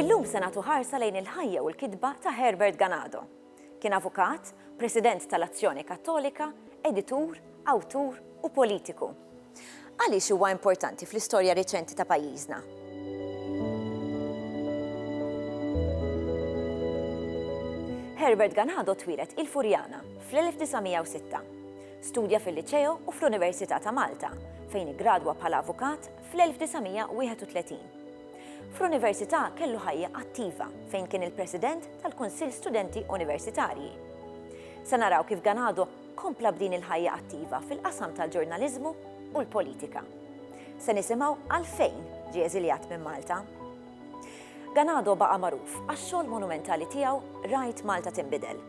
Illum se nagħtu ħarsa lejn il-ħajja u l-kitba ta' Herbert Ganado. Kien avukat, president tal-Azzjoni Kattolika, editur, awtur u politiku. Għaliex huwa importanti fl-istorja reċenti ta' pajjiżna? Herbert Ganado twieled il-Furjana fl-1906. Studja fil-Liċeo u fl-Università ta' Malta, fejn iggradwa bħala avukat fl-1931. Fl-università kellu ħajja attiva fejn kien il-President tal-Kunsill Studenti Universitarji. Se naraw kif Ganado kompla b'din il-ħajja attiva fil-qasam tal-ġurnaliżmu u l-politika. Se nisimgħu għalfejn ġie eżiljat minn Malta. Ganado baqa' magħruf għax-xogħol monumentali tiegħu Rajt Malta Tinbidel.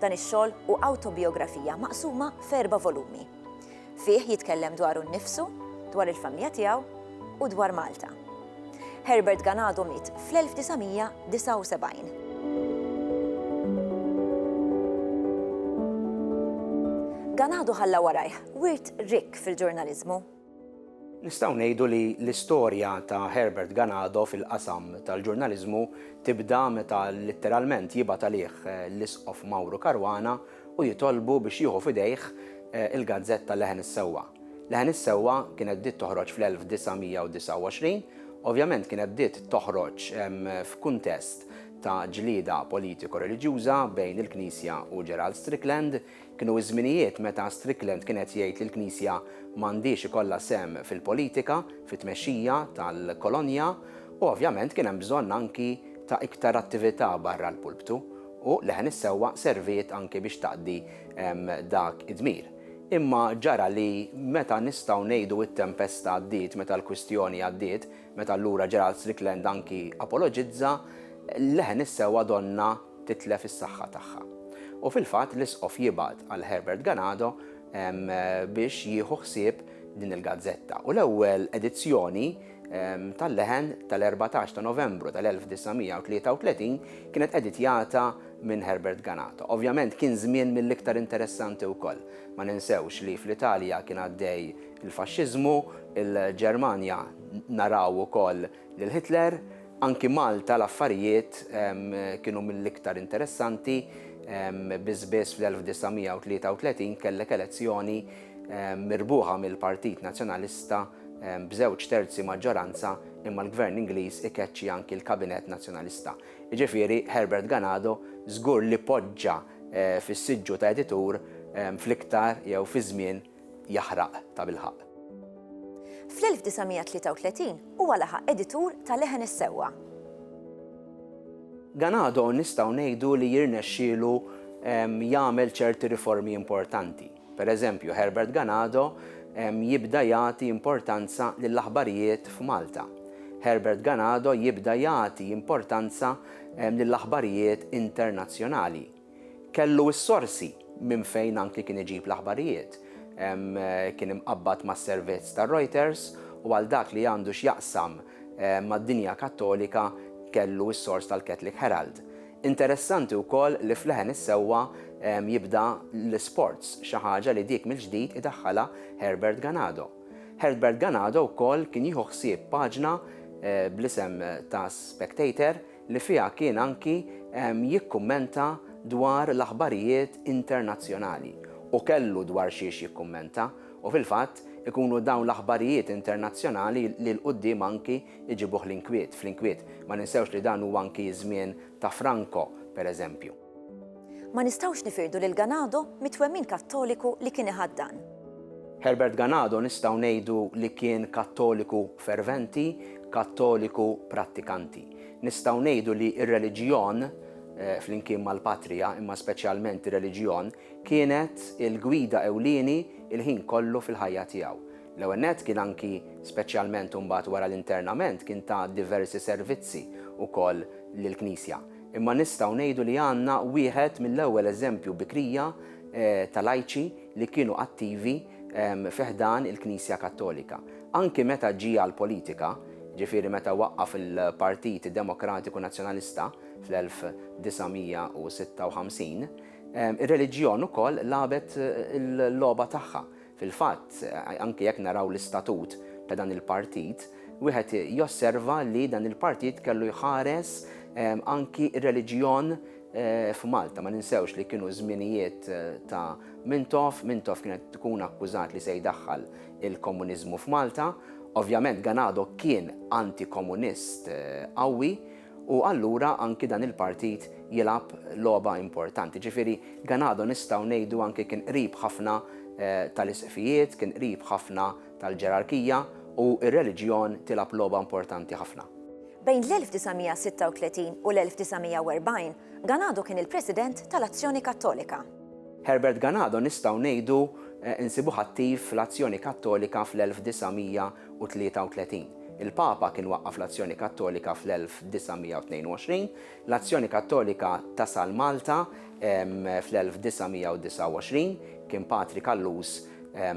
Dan ix-xogħol hu awtobijografija maqsuma f'erba' volumi. Fih jitkellem dwaru nnifsu, dwar il-familja tiegħu u dwar Malta. Herbert Ganado miet fl-1979. Ganado ħalla warajh wirt rikk fil-ġurnaliżmu. Nistgħu ngħidu li l-istorja ta' Herbert Ganado fil-qasam tal-ġurnaliżmu tibda meta litteralment jibgħat għalih l-Isqof Mauro Caruana u jitolbu biex jieħu f'idejh il-gazzetta Leħen is-Sewwa. Leħen is-Sewwa kienet bdiet toħroġ fl-1929, ovvjament kienet bdiet toħroġ f'kuntest ta' ġlieda politiko-reliġjuża bejn il-Knisja u Gerald Strickland. Kienu ż-żminijiet meta Strickland kien qed jgħid li l-Knisja m'għandhiex ikollha sehem fil-politika, fit-tmexxija tal-kolonja u ovvjament kien hemm bżonn anki ta' iktar attività barra l-pulptu. U l-leħen is-sewwa serviet anki biex taqdi dak id-dmir. Imma ġara li meta nistgħu ngħidu t-tempesta għaddiet, meta l-kwistjoni għaddiet, meta allura Gerald Strickland anki apoloġizza, l-leħen is-sewwa donnha titlef is-saħħa tagħha. U fil-fatt l-Isqof jibgħat għal Herbert Ganado biex jieħu ħsieb din il-gazzetta. U l-ewwel edizzjoni tal-leħen tal-14 ta' Novembru tal-1933 kienet editjata minn Herbert Ganata. Ovvjament kien żmien mill-iktar interessanti wkoll. Ma ninsewx li fl-Italja kien għaddej il-faxxiżmu, il-Ġermanja naraw ukoll lil Hitler, anki Malta l-affarijiet kienu mill-iktar interessanti, biss biss fl-1933 kellek elezzjoni mirbuħa mill-Partit Nazzjonalista b'żewġ terzi maġġoranza imma l-Gvern Ingliż ikeċċi anki l-Kabinett Nazzjonalista. Jiġifieri Herbert Ganado żgur li poġġa fis-siġġu ta' editur fl-iktar jew fi żmien jaħraq tabilħaqq. Fl-1933 huwa laħaq editur ta' Leħen is-Sewwa. Ganado nistgħu ngħidu li jirnexxielu jagħmel ċerti riformi importanti. Per eżempju, Herbert Ganado jibda jagħti importanza lill-aħbarijiet f'Malta. Herbert Ganado jibda jagħti importanza lill-aħbarijiet internazzjonali. Kellu s-sorsi minn fejn anki kien iġib l-aħbarijiet. Kien imqabbad mas-servizz ta' Reuters u għal dak li għandu x'jaqsam mad-dinja Kattolika kellu s-sors tal-Catholic Herald. Interessanti wkoll li f'leħen is-sewwa jibda l-isports, xi ħaġa li dik mill-ġdid idaħħalha Herbert Ganado. Herbert Ganado wkoll kien jieħu ħsieb paġna bl-isem ta' Spectator li fiha kien anki jikkummenta dwar l-aħbarijiet internazzjonali. U kellu dwar xiex jikkummenta u fil-fatt ikunu dawn l-aħbarijiet internazzjonali li 'l quddiem anki iġibuh l-inkwiet, fl-inkwiet. Ma ninsewx li dan huwa anki ż-żmien ta' Franco, pereżempju. Ma nistgħux nifirdu lil Ganado mit-twemmin Kattoliku li kien iħaddan. Herbert Ganado nistgħu ngħidu li kien Kattoliku ferventi, Kattoliku prattikanti. Nistgħu ngħidu li r-reliġjon, flimkien mal-patrija, imma speċjalment ir-reliġjon, kienet il-gwida ewlieni l-ħin kollu fil-ħajja tiegħu. L-ewwel nett kien anki, speċjalment imbagħad wara l-internament, kien ta diversi servizzi wkoll lill-Knisja. Imma nistgħu ngħidu li għandna wieħed mill-ewwel eżempju bikrija ta' lajċi li kienu attivi fi ħdan il-Knisja Kattolika. Anki meta ġie għall-politika, ġifieri meta waqqaf il-Partit Demokratiku Nazzjonalista fl-1956, ir-reliġjon ukoll lagħbet il-logħba tagħha. Fil-fatt, anke jekk naraw l-istatut ta' dan il-partit, wieħed josserva li dan il-partit kellu jħares anki r-reliġjon f'Malta. Ma ninsewx li kienu żminijiet ta' Mintoff, Mintoff kien qed ikun akkużat li se jdaħħal il-komuniżmu f'Malta. Ovvjament Ganado kien antikomunist qawwi U allura anki dan il-partit jilgħab logħba importanti. Ġifieri Ganado nistgħu ngħidu anki kien qrib ħafna tal-isqfijiet, kien qrib ħafna tal-ġerarkija u r-reliġjon tilgħab logħba importanti ħafna. Bejn l-1936 u l-1940, Ganado kien il-President tal-Azzjoni Kattolika. Herbert Ganado nistgħu ngħidu nsibuh attiv fl-Azzjoni Kattolika fl-1936. 1933. Il-Papa kien waqqaf l-Azzjoni Kattolika fl-1922. L-Azzjoni Kattolika tasal Malta fl-1929. Kien Patri Callus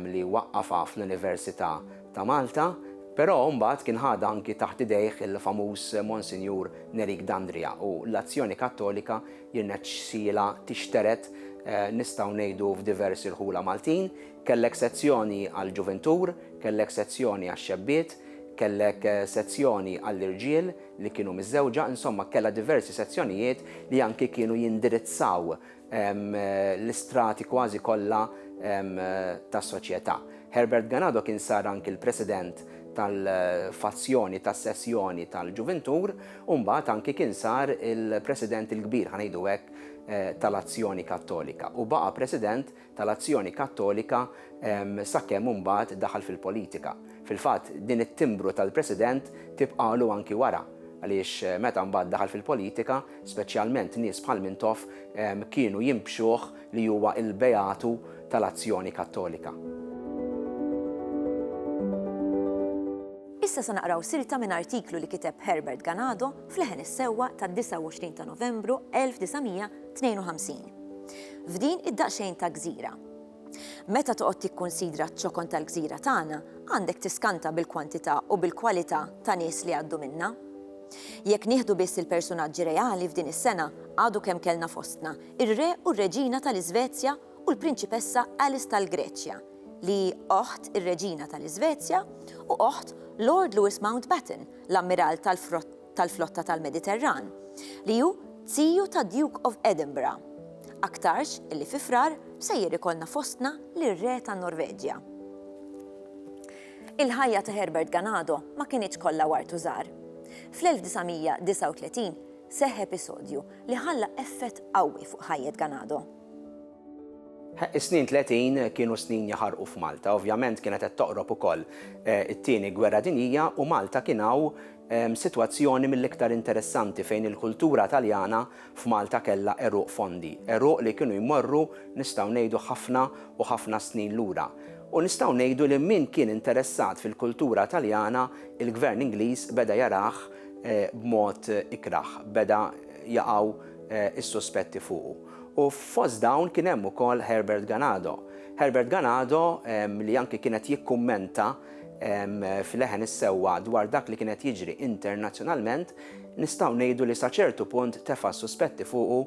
li waqqafha fl-Università ta' Malta. Però mbagħad kien ħadha anki taħt idejh il-famuż Monsinjur Nerik Dandria u l-Azzjoni Kattolika jirnexxielha tixtered nistgħu ngħidu f'diversi rħula Maltin. Kellek sezzjoni għall-ġuvintur, kellek sezzjoni għax-xebbiet, kellek sezzjoni għall-irġiel li kienu miżżewġa, insomma kellha diversi sezzjonijiet li anki kienu jindirizzaw l-istrati kważi kollha tas-soċjetà. Herbert Ganado kien sar anki l-president tal-fazzjoni tas-sessjoni tal-ġuvintur u mbagħad anki kien sar il-president il-kbir, ħa ngħidu hekk, tal-Azzjoni Kattolika u baqa' president tal-Azzjoni Kattolika sakemm imbagħad daħal fil-politika. Fil-fatt, din it-timbru tal-President tibqagħlu anki wara, għaliex meta mbagħad daħal fil-politika, speċjalment nies bħal Mintoff kienu jinbxuh li huwa l-beatu tal-Azzjoni Kattolika. Issa se naqraw silta minn artiklu li kiteb Herbert Ganado f'Leħen is-Sewwa tad-29 ta' Novembru 1900 52. F'din id-daqsxejn ta' gżira. Meta toqgħod tikkunsidra ċ-ċokon tal-gżira tagħna, għandek tiskanta bil-kwantità u bil-kwalità ta' nies li għaddu minnha. Jekk nieħdu biss il-persunaġġi reali f'din is-sena, għadu kemm kellna fostna ir-Re u r-Reġina tal-Iżvezja u l-Prinċipessa Alice tal-Greċja, li hi oħt ir-Reġina tal-Iżvezja u oħt Lord Lewis Mountbatten, l-Ammiral tal-Flotta. tal-flotta tal-Mediterran, li hu ziju ta' Duke of Edinburgh. Aktarx illi fi Frar sejjer ikollna fostna lir-Re tan-Norveġja. Il-ħajja ta' Herbert Ganado ma kinitx kollha ward u żahar. Fl-1939 seħħ episodju li ħalla effett qawwi fuq ħajjet Ganado. Is-snin tletin kienu snin jaħarqu f'Malta. Ovvjament kienet qed toqrob ukoll it-Tieni Gwerra Dinjija u Malta kien hawn sitwazzjoni mill-iktar interessanti fejn il-kultura Taljana f'Malta kellha għeruq fondi, għeruq li kienu jmorru nistgħu ngħidu ħafna u ħafna snin lura. U nistgħu ngħidu li min kien interessat fil-kultura Taljana il-Gvern Ingliż beda jarah b'mod ikrah, beda jaqgħu s-suspetti fuqu. U fost dawn kien hemm ukoll Herbert Ganado. Herbert Ganado li anki kien qed jikkummenta, f'leħen is-sewwa dwar dak li kien qed jiġri internazzjonalment, nistgħu ngħidu li sa ċertu punt tefa' s-suspetti fuqu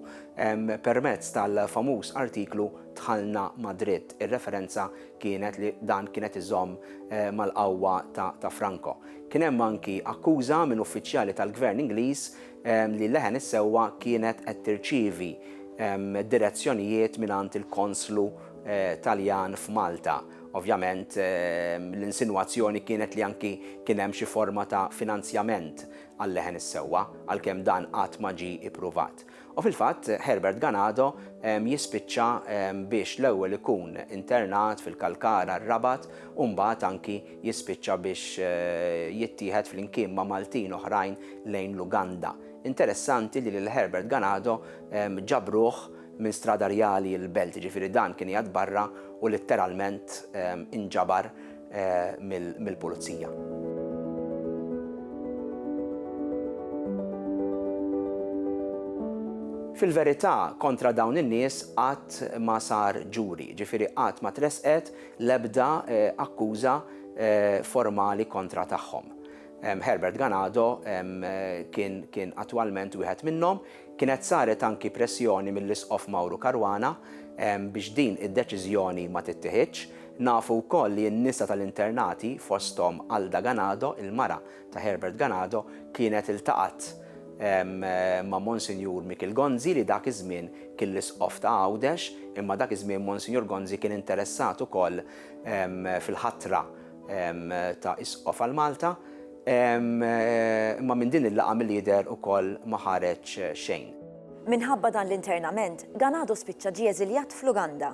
permezz tal-famuż artiklu Dħalna mad-dritt. Ir-referenza kienet li dan kien qed iżomm mal-qawwa ta' Franco. Kien hemm anki akkuża minn uffiċjali tal-Gvern Ingliż li leħen is-sewwa kienet qed tirċievi direzzjonijiet mingħand il-Konslu Taljan f'Malta. Ovvjament, l-insinwazzjoni kienet li anki kien hemm xi forma ta' finanzjament għal-leħen is-sewwa, għalkemm dan qatt ma ġie ippruvat. U fil-fatt, Herbert Ganado jispiċċa biex l-ewwel ikun internat fil-Kalkara, r-Rabat, u mbagħad anki jispiċċa biex jittieħed flimkien ma' Maltin oħrajn lejn l-Uganda. Interessanti li lil Herbert Ganado ġabruh minn Strada Rjali l-Belt, jiġifieri dan kien qiegħed barra u litteralment inġabar mill-Pulizija. Fil-verità, kontra dawn in-nies qatt ma sar ġuri, jiġifieri qatt ma tressqet l-ebda akkuża formali kontra tagħhom. Herbert Ganado kien attwalment wieħed minnhom Kienet saret anki pressjoni mill-Isqof Mauro Caruana biex din id-deċiżjoni ma tittieħidx. Nafu wkoll li n-nisa tal-internati, fosthom Alda Ganado, il-mara ta' Herbert Ganado, kienet iltaqgħet ma' Monsinjur Mikiel Gonzi li dak iż-żmien kien l-Isqof ta' Għawdex, imma dak iż-żmien Monsinjur Gonzi kien interessat ukoll fil-ħatra ta' Isqof għal Malta, imma minn din il-laqgħa milli jidher ukoll ma ħareġ xejn. Minħabba dan l-internament, Ganado spiċċa ġie eżiljat fl-Uganda.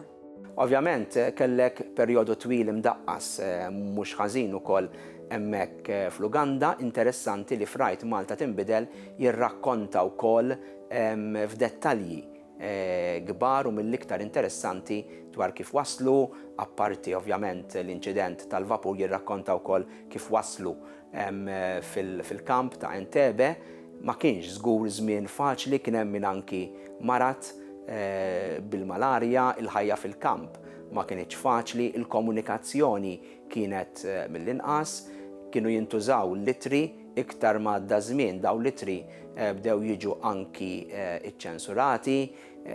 Ovvjament kellek perjodu twil imdaqqas mhux ħażin ukoll hemmhekk fl-Uganda. Interessanti li f'Right Malta Tinbidel jirrakkonta wkoll f'dettalji kbar u mill-iktar interessanti dwar kif waslu, apparti ovvjament l-inċident tal-vapur jirrakkonta wkoll kif waslu fil-kamp ta' Entebbe. Ma kienx żgur żmien faċli, kien hemm min anki marad bil-malarja, il-ħajja fil-kamp ma kinitx faċli, il-komunikazzjoni kienet mill-inqas, kienu jintużaw l-ittri, Iktar ma għadda ż-żmien, dawn l-ittri bdew jiġu anki ċċensurati,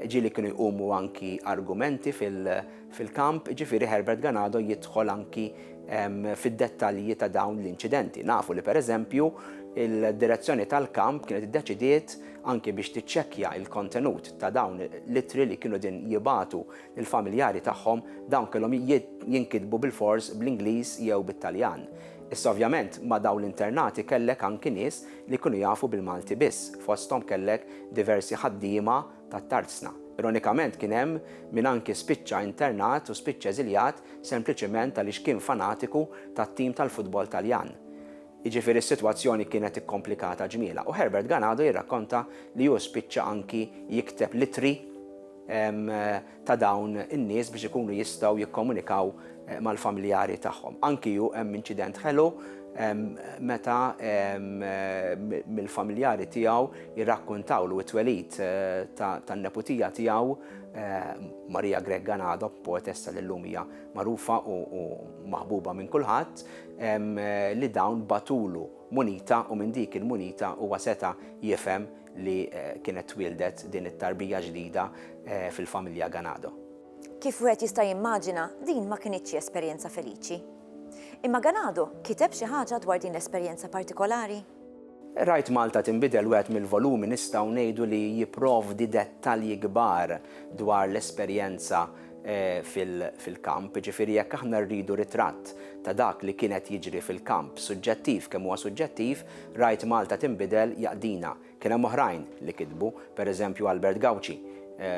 ġieli kienu jqumu anki argumenti fil-kamp, jiġifieri Herbert Ganado jidħol anki fid-dettalji ta' dawn l-inċidenti. Nafu li pereżempju d-direzzjoni tal-kamp kienet iddeċidiet anki biex tiċċekkja l-kontenut ta' dawn l-ittri li kienu qegħdin jibgħatu Il-familjari tagħhom, dawn kellhom jinkitbu bilfors bl-Ingliż jew bit-Taljan. Issa ovvjament ma' dawn l-internati kellek anki nies li kienu jafu bil-Malti biss, fosthom kellek diversi ħaddiema tat-tarzna. Ironikament kien hemm min anki spiċċa internat u spiċċa eżiljat sempliċement għaliex kien fanatiku tat-tim tal-futbol Taljan. Jiġifieri s-sitwazzjoni kienet ikkomplikata ġmielha u Herbert Ganado jirrakkonta li hu spiċċa anki jikteb l-ittri ta' dawn in-nies biex ikunu jistgħu jikkomunikaw mal-familjari tagħhom. Anki hu hemm inċident ħelu meta mill-familjari tiegħu jirrakkuntawlu t-twelid tan-neputija tiegħu Maria Grech Ganado, poetessa li llum hija magħrufa u maħbuba minn kulħadd, li dawn bagħtulu munita u minn dik il-munita huwa seta' jifhem li kienet twieldet din it-tarbija ġdida fil-familja Ganado. Kif wieħed jista' jimmaġina, din ma kinitx xi esperjenza feliċi. Imma Ganado kiteb xi ħaġa dwar din l-esperjenza partikolari? Rajt Malta Tinbidel wieħed mill-volumi nistgħu ngħidu li jipprovdi dettalji kbar dwar l-esperjenza fil-kamp, jiġifieri jekk aħna rridu ritratt ta' dak li kien qed jiġri fil-kamp, suġġettiv kemm huwa suġġettiv, Rajt Malta Tinbidel jaqdina. Kien hemm oħrajn li kitbu, per eżempju Albert Gauci,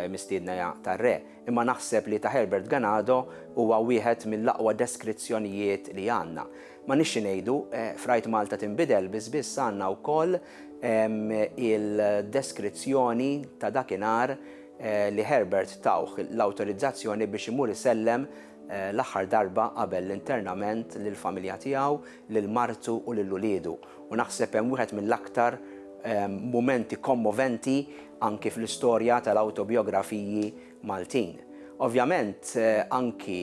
mistiedna tar-Re, imma naħseb li ta' Herbert Ganado huwa wieħed mill-aqwa deskrizzjonijiet li għandna. M'għandniex xi ngħidu, f'Rajt Malta Tinbidel biss biss għandna wkoll il-deskrizzjoni ta' dakinhar, li Herbert tawh l-awtorizzazzjoni biex imur isellem l-aħħar darba qabel l-internament lill-familja tiegħu, lil martu u lil uliedu. U naħseb hemm wieħed mill-aktar mumenti kommoventi anki fl-istorja tal-awtobijografiji Maltin. Ovvjament anki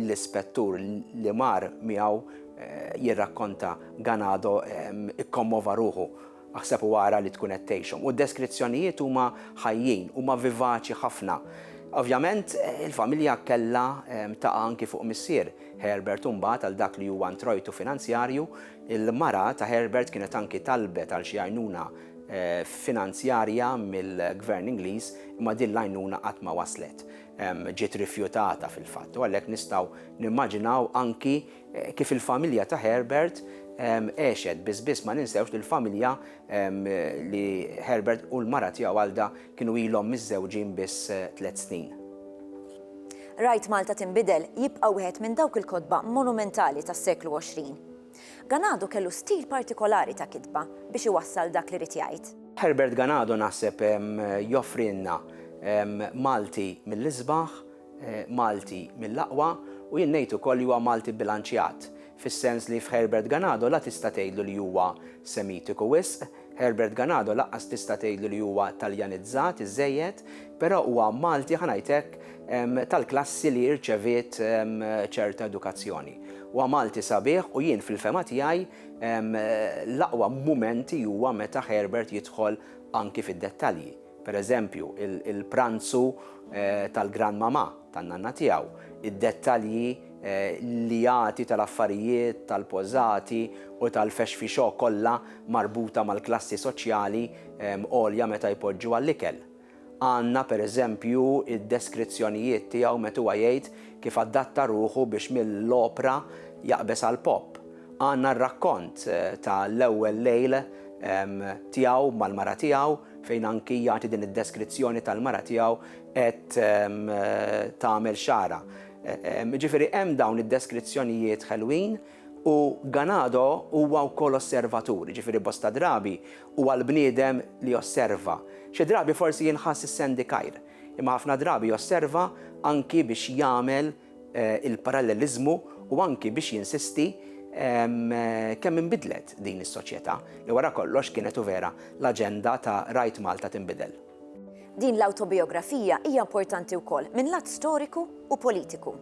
l-ispettur li mar miegħu jirrakkonta Ganado ikkommova ruħu. Aħseb u ara li tkun qed tgħixhom. U d-deskrizzjonijiet huma ħajjin, huma vivaċi ħafna. Ovvjament, il-familja kellha taqa' anki fuq missier Herbert u mbagħad għal dak li huwa ntrojtu finanzjarju. Il-mara ta' Herbert kienet anki talbet għal xi għajnuna finanzjarja mill-Gvern Ingliż imma din l-għajnuna qatt ma waslet. Ġiet rifjutata fil-fatt u għalhekk nistgħu nimmaġinaw anki Kif il-familja ta' Herbert għexet, biss biss ma ninsewx li l-familja li Herbert u l-mara tiegħu Alda kienu ilhom miżżewġin biss tliet snin. Rajt Malta Tinbidel jibqa' wieħed minn dawk il-kotba monumentali tas-seklu 20. Ganado kellu stil partikolari ta' kitba biex iwassal dak li ried jgħid. Herbert Ganado naħseb joffrilna Malti mill-isbaħ. Malti mill-aqwa u jien ngħid ukoll li huwa Malti bilanċjat, fis-sens li f'Herbert Ganado la tista' tgħidlu li huwa Semitiku wisq, Herbert Ganado laqqas tista' tgħidlu li huwa Taljanizzat iżżejjed, però huwa Malti, ħa ngħid hekk, tal-klassi li rċeviet ċerta edukazzjoni. Huwa Malti sabiħ u jien fil-fehma tiegħi l-aqwa mumenti huwa meta Herbert jidħol anki fid-dettalji. per eżempju, il-pranzu tal-granmamà, tan-nanna tiegħu, id-dettalji li jagħti tal-affarijiet, tal-pożati u tal-fexfixò kollha marbuta mal-klassi soċjali għolja meta jpoġġu għall-ikel. Għandna, per eżempju, id-deskrizzjonijiet tiegħu met huwa jgħid kif adatta ruħu biex mill-opra jaqbeż għall-pop. Għandna r-rakkont ta' l-ewwel lejl tiegħu mal-mara tiegħu fejn anki jagħti din id-deskrizzjoni tal-mara tiegħu qed tagħmel xagħarha. Ġifieri hemm dawn id-deskrizzjonijiet ħelwin u Ganado huwa wkoll osservatur, ġifieri bosta drabi huwa l-bniedem li josserva. Xi drabi forsi jinħass is-sendikajr, imma ħafna drabi josserva anki biex jagħmel il-paralleliżmu u anki biex jinsisti kemm inbidlet din is-soċjetà li wara kollox kienet u vera l-aġenda ta' Rajt Malta Tinbidel. Din l-awtobijografija hija importanti wkoll minn lat storiku u politiku.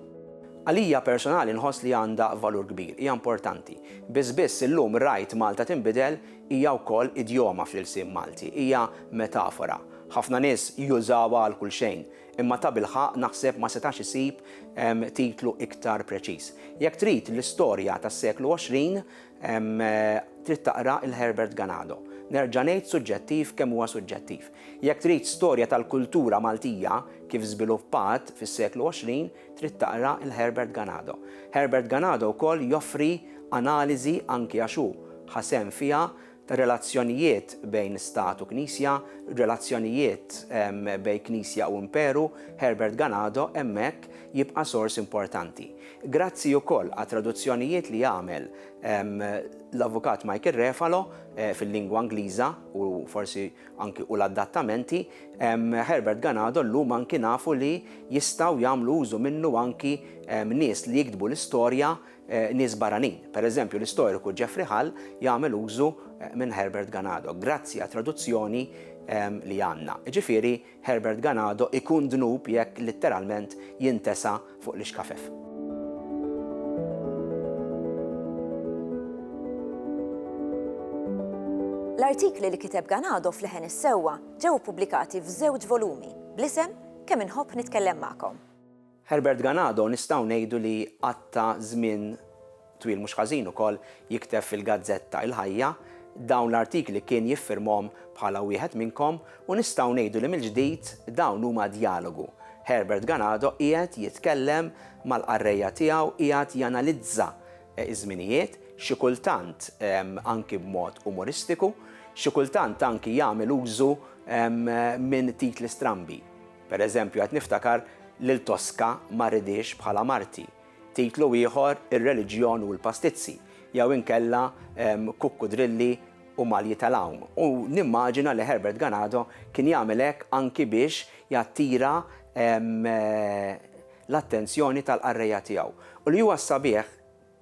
Għalija personali nħoss li għandha valur kbir, hija importanti. Biss biss illum Rajt Malta Tinbidel hija wkoll idjoma fl-ilsien Malti, hija metafora. Ħafna nies jużawha għal kulxejn, Imma tabilħaqq naħseb ma setax isib titlu iktar preċiż. Jekk trid l-istorja tas-seklu 20, trid taqra 'il Herbert Ganado. Nerġa' ngħid suġġettiv kemm huwa suġġettiv. Jekk trid storja tal-kultura Maltija kif żviluppat fis-seklu 20, trid taqra 'il Herbert Ganado. Herbert Ganado wkoll joffri analiżi anki għax hu ħa sehem fiha, relazzjonijiet bejn Stat u Knisja, relazzjonijiet bejn Knisja u Imperu, Herbert Ganado hemmhekk jibqa' sors importanti. Grazzi wkoll għat-traduzzjonijiet li għamel l-Avukat Michael Refalo fil-lingwa Ingliża u forsi anki u l-adattamenti, Herbert Ganado llum anki nafu li jistgħu jagħmlu użu minnu anki nies li jiktbu l-istorja, nies barranin. Pereżempju, l-istoriku Geoffrey Hull jagħmel użu minn Herbert Ganado, grazzi għat-traduzzjoni li għandna. Jiġifieri, Herbert Ganado ikun dnub jekk litteralment jintesa fuq l-ixkafef. L-artikli li kiteb Ganado f'Leħen is-Sewwa ġew ippubblikati f'żewġ volumi bl-isem Kemm Inħobb Nitkellem Magħkom. Herbert Ganado nistgħu ngħidu li qatta' żmien twil mhux ħażin ukoll jikteb fil-gazzetta Il-Ħajja, dawn l-artikli kien jiffirmhom bħala wieħed minnkom u nistgħu ngħidu li mill-ġdid dawn huma djalogu, Herbert Ganado qiegħed jitkellem mal-qarrejja tiegħu qiegħed janalizza ż-żminijiet, xi kultant anki b'mod umoristiku, xi kultant anki jagħmel użu minn titli strambi. Per eżempju, qed niftakar lil Tosca ma rridhiex bħala marti. Titlu ieħor, Ir-reliġjon u l-pastizzi, jew inkella Kukkudrilli u malji tal-għawm. U nimmaġina li Herbert Ganado kien jagħmel hekk anki biex jattira l-attenzjoni tal-qarrejja tiegħu. U li huwa s-sabiħ,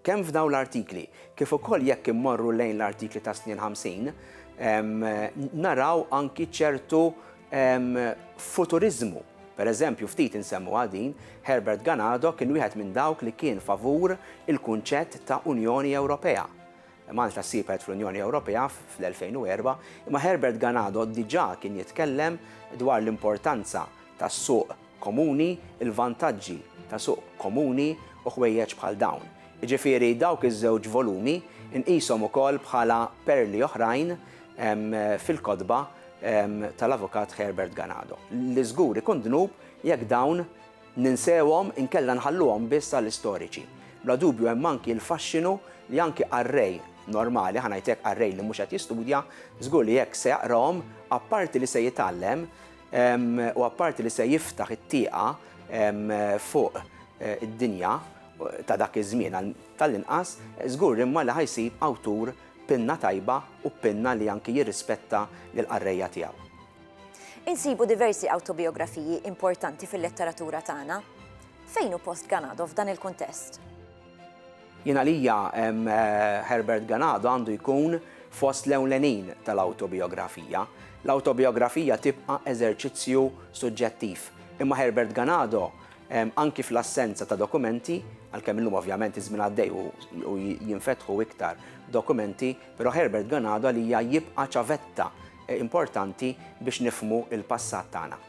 Kemm f'dawn l-artikli, kif ukoll jekk immorru lejn l-artikli ta' Snien Ħamsin, naraw anki ċertu futuriżmu. Per eżempju, ftit insemmuha din, Herbert Ganado kien wieħed minn dawk li kien favur il-kunċett ta' Unjoni Ewropea. Malta ssibet fl-Unjoni Ewropea fl-2004, imma Herbert Ganado diġà kien jitkellem dwar l-importanza tas-suq komuni, il-vantaġġi ta' suq komuni u ħwejjeġ bħal dawn. Jiġifieri dawk iż-żewġ volumi nqishom ukoll bħala perli oħrajn fil-kotba tal-Avukat Herbert Ganado, li żgur ikun dnub jekk dawn ninsewhom inkella nħalluhom biss għall-istoriċi. Bla dubju hemm anki l-faxxinu li anki qarrej normali, ħa ngħid hekk qarrej li mhux qed jistudja, żgur li jekk se jaqrahom, apparti li se jitgħallem, u apparti li se jiftaħ it-tieqa fuq id-dinja ta' dak iż-żmien għal tal-inqas, żgur imma li ħa jsib awtur b'pinna tajba u b'pinna li anki jirrispetta lill-qarrejja tiegħu. Insibu diversi awtobijografiji importanti fil-letteratura tagħna. Fejn hu post Ganado f'dan il-kuntest? Jien għalija Herbert Ganado għandu jkun fost l-ewlenin tal-awtobijografija. L-awtobijografija tibqa' eżerċizzju suġġettiv, imma Herbert Ganado, anki fl-assenza ta' dokumenti, għalkemm illum ovvjament iż-żmien għaddej u jinfetħu iktar dokumenti, però Herbert Ganado għalija jibqa' ċavetta importanti biex nifhmu l-passat tagħna.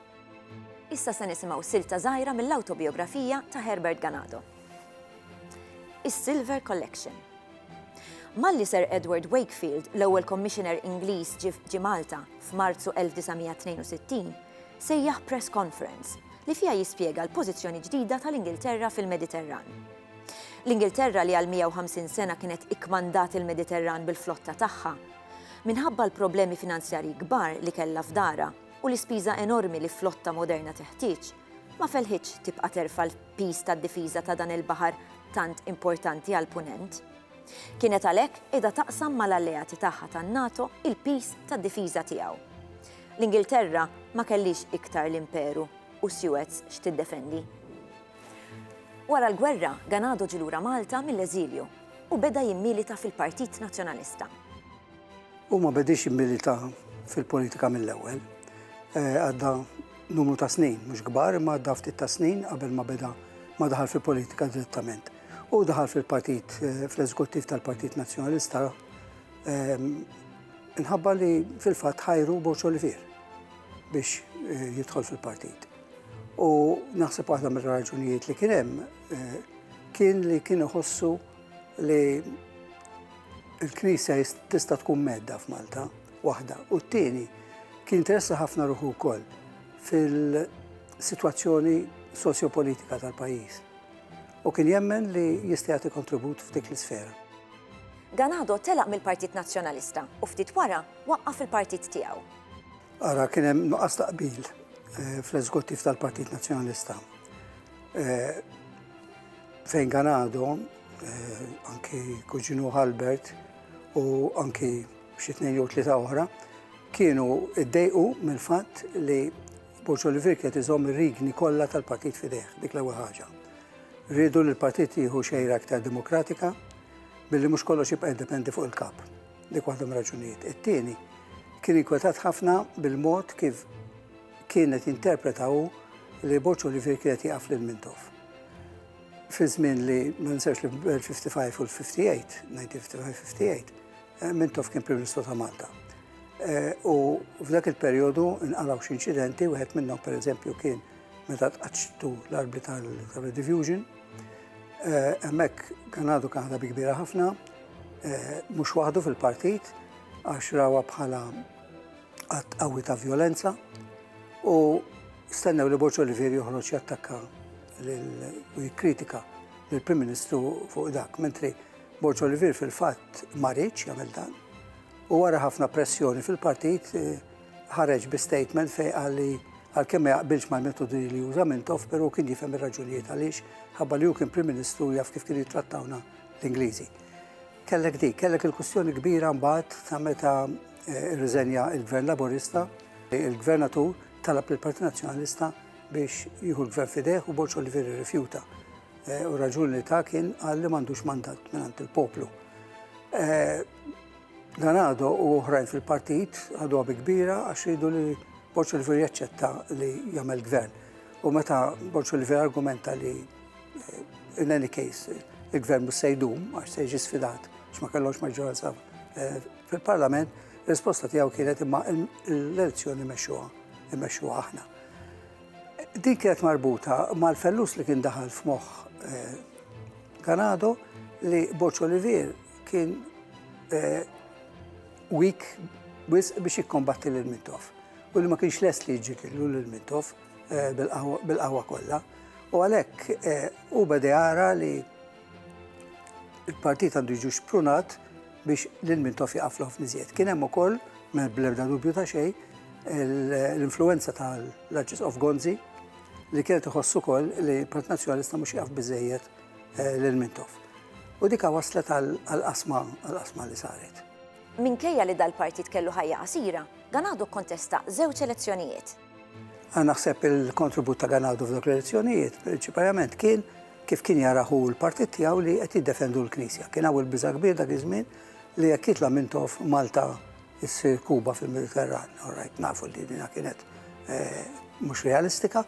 Issa se nisimgħu silta żgħira mill-awtobijografija ta' Herbert Ganado. Is-Silver Collection. Malli Sir Edward Wakefield, l-ewwel Commissioner Ingliż ġie Malta f'Marzu 1962, sejjaħ press conference li fiha jispjega l-pożizzjoni ġdida tal-Ingilterra fil-Mediterran. L-Ingilterra li għal 150 sena kienet ikkmandat il-Mediterran bil-flotta tagħha, minħabba l-problemi finanzjarji kbar li kellha f'dara u l-ispiża enormi li flotta moderna teħtieġ, ma felħitx tibqa' terfa' piż tad-difiża ta' dan il-baħar tant importanti għall-Punent. Kienet għalhekk qiegħda taqsam mal-alleati tagħha tan-NATO il-piż tad-difiża tiegħu. L-Ingilterra ma kellhiex iktar l-Imperu u Suez x'tiddefendi. Wara l-gwerra, Ganado ġie lura Malta mill-eżilju u beda jimmilita fil-Partit Nazzjonalista. Hu ma bediex jimmilita fil-politika mill-ewwel. Għadda numru ta' snin, mhux kbar, imma għadda ftit ta' snin qabel ma beda ma daħal fil-politika direttament. U daħal fil-partit, eh, fl-eżekuttiv tal-Partit Nazzjonalista, ehm, nħabba li fil-fatt ħajru Boċo li fir biex eh, jidħol fil-partit. U naħseb waħda mir-raġunijiet li kien hemm eh, kien li kien iħossu Li l-Knisja tista' tkun medda f'Malta, waħda. U t-tieni, kien interessa ħafna ruħu wkoll fil-sitwazzjoni sosjopolitika tal-pajjiż. U kien jemmen li jista' jagħti kontribut f'dik l-isfera. Ganado telaq mill-Partit Nazzjonalista u ftit wara waqqaf il-partit tiegħu. Ara kien hemm nuqqas ta' qbil eh, fl-eżekuttiv tal-Partit Nazzjonalista. Eh, Fejn kan għadhom, eh, anki kuġinu Albert u anki xi tnejn jew tlieta oħra, kienu ddejqu mill-fatt li Borġ Olivier kienet iżomm ir-rigni kollha tal-partit fideh, dik l-ewwel ħaġa. Rridu li l-partit jieħu xejra aktar demokratika billi mhux kollox jibqa' jiddependi fuq il-kap. Dik waħda raġunijiet. It-tieni kien inkwetat ħafna bil-mod kif kienet jinterpretaw li Borġ Olivier kienet jaqaf lil Mintoff. fi żmien li ma ninsewx li fil-55 u l-58, 1955-58, eh, Mintoff kien Prim Ministru ta' Malta. Eh, u f'dak il-perjodu nqalaw xi inċidenti, wieħed minnhom pereżempju kien meta tqaċċtu l-arbi tal-Redivision. Eh, hemmhekk kien għadu kien bi kbira ħafna, mhux waħdu fil-partit, għax rawa bħala Att qawwi ta' vjolenza u stennew li Borċo Olivier joħroġ jattakka u jikkritika lill-Prim Ministru fuq dak, mentri Borġ Olivier fil-fatt marriċ jagħmel dan. U wara ħafna pressjoni fil-partit eh, ħareġ bi statement fej għalli għal-kemm ma jaqbilx mal-metodi li juża Mintoff, però kien jifhem ir-raġunijiet għaliex ħabba li hu kien Prim Ministru jaf kif kien jittrattawna l-Ingliżi. Kellek di, kellek il-kustjoni kbira mbagħad ta' meta Irriżenja l-Gvern Laburista, il-Gvernatur talab lill-Partit Nazzjonalista biex jieħu l-Gvern f'idejh u Borċ Olivieri rrifjuta. Eh, u raġuni li ta' kien għal li m'għandux mandat minn il-poplu. Eh, Dan għadu u oħrajn fil-partit għadu għabi kbira għax jridu li Borċ Oliver jaċċetta li jagħmel gvern. U meta Borċ Oliver argumenta li eh, in any case il-gvern mhux se jdum għax se jiġi sfidat x'ma kellhomx maġġoranza eh, Fil-Parlament, risposta tiegħu kienet imma l-elezzjoni mexxuha, immexxuha aħna. Din kienet marbuta mal-fellus li kien daħal f'moħħ eh, Kanado li Boċ Olivier kien eh, weak biex jikkombatti lil Mintoff. U li ma kienx les li jġikillu lil Mintoff eh, bil-qahwa kollha. U għalhekk u beda jara li Il-partit għandu jiġu xprunat biex lil min tof jaqaf l-ħof niżjed. Kien hemm ukoll, bl-ebda dubju ta' xejn, l-influenza tal-Arċis of Gonzi li kienet iħossu kol li Partit Nazjonalista mhux jaf biżejjed eh, lil Mintoff. U dika waslet għal-qasma għal-qasma li saret. Minkejja li dal-partit kellu ħajja qasira, dan għadu kontesta żewġ elezzjonijiet. Għan naħseb il-kontribut ta' Ganawdu f'dok l-elezzjonijiet, prinċipalment kien kif kien jaraħu l-partit tiegħu li qed jiddefendu l-Knisja. Kien hawn il-biża' kbir dak iż-żmien li jekk jitla' minn tof Malta issir Kuba fil-Mediterran. Orajt nafu li dina kienet eh, mhux realistika,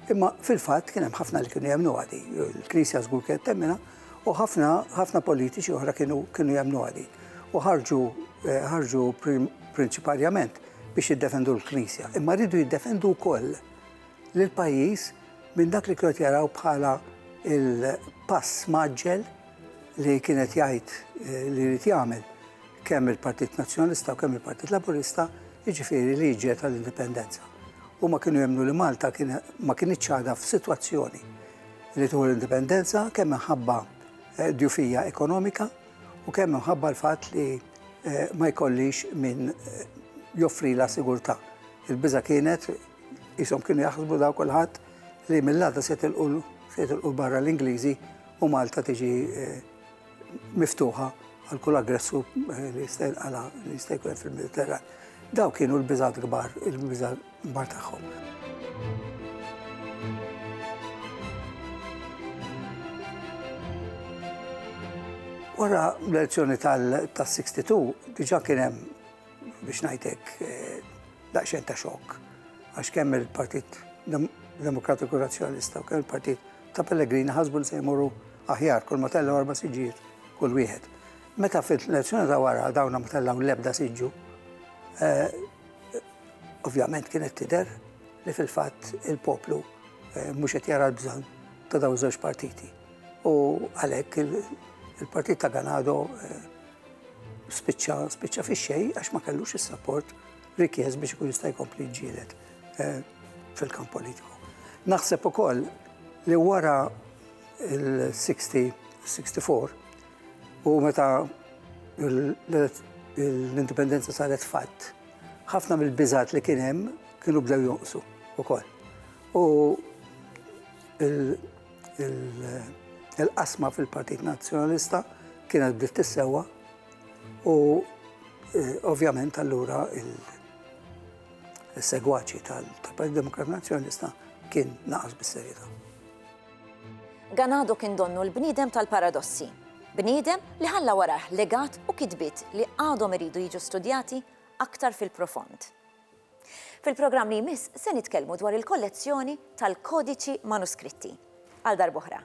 imma fil-fatt kien hemm ħafna li kienu jemnu għadi. Il-Knisja żgur kienet temmina u ħafna ħafna politiċi oħra kienu kienu jemnu għadi. U ħarġu eh, ħarġu prinċipalment biex jiddefendu l-Knisja, imma rridu jiddefendu wkoll lill-pajjiż minn dak li kienu jaraw bħala il-pass maġġel li kienet jgħid eh, li jrid jagħmel kemm il-Partit Nazzjonalista u kemm il-Partit Laburista, jiġifieri li ġiet tal-indipendenza. U ma kienu jemnu li Malta ma kien iċċada f'sitwazzjoni li tuħu l-indipendenza kemm minħabba eh, djufija ekonomika u kemm minħabba l-fatt li ma jkollix min joffrilha sigurtà. Il-biża' kienet ishom kienu jaħsbu daw kulħadd li mill-għada se tilqu barra l-Ingliżi u Malta tiġi miftuħa għal kull aggressu li jista' jinqala' li jista' jkun fil-Mediterran. Daw kienu l-biżat kbar, il-biża' l-kbar tagħhom. Wara l-elezzjoni tal-62 diġa kien hemm biex ngħidlek eh, daqsxejn ta' xokk għax kemm il-Partit Demokratiku Razzjonalista u kemm il-Partit ta' Pellegrini ħasbu li se jmorru aħjar kull ma tellgħu arba' siġġijiet kull wieħed. Meta fil-elezzjoni ta' wara dawna ma tellgħu l-ebda siġġu, eh, Ovvjament kienet tidher li fil-fatt il-poplu eh, mhux qed jara l-bżonn ta' dawn żewġ partiti. U għalhekk il-partit ta' Ganado eh, spiċċa spiċċa fix-xejn għax ma kellux is-sapport rikjez biex ikun jista' jkompli ġielet eh, fil-kamp politiku. Naħseb ukoll li wara il-60 64 U meta l-indipendenza saret fatt, ħafna mill-biżat li kien hemm kienu bdew jonqsu ukoll. U il-qasma fil-Partit Nazzjonalista kienet bdiet tissewa u eh, ovvjament allura il-segwaċi tal-Partit Demokrat Nazzjonalista kien naqas bis-serjetà. Ganado kien donnu l-bniedem tal-paradossi. Bniedem li ħalla warajh legat u kitbiet li għadhom iridu jiġu studjati aktar fil-profond. Fil-programm li jmiss se nitkellmu dwar il-kollezzjoni tal-kodiċi manuskritti. Għal darb'oħra.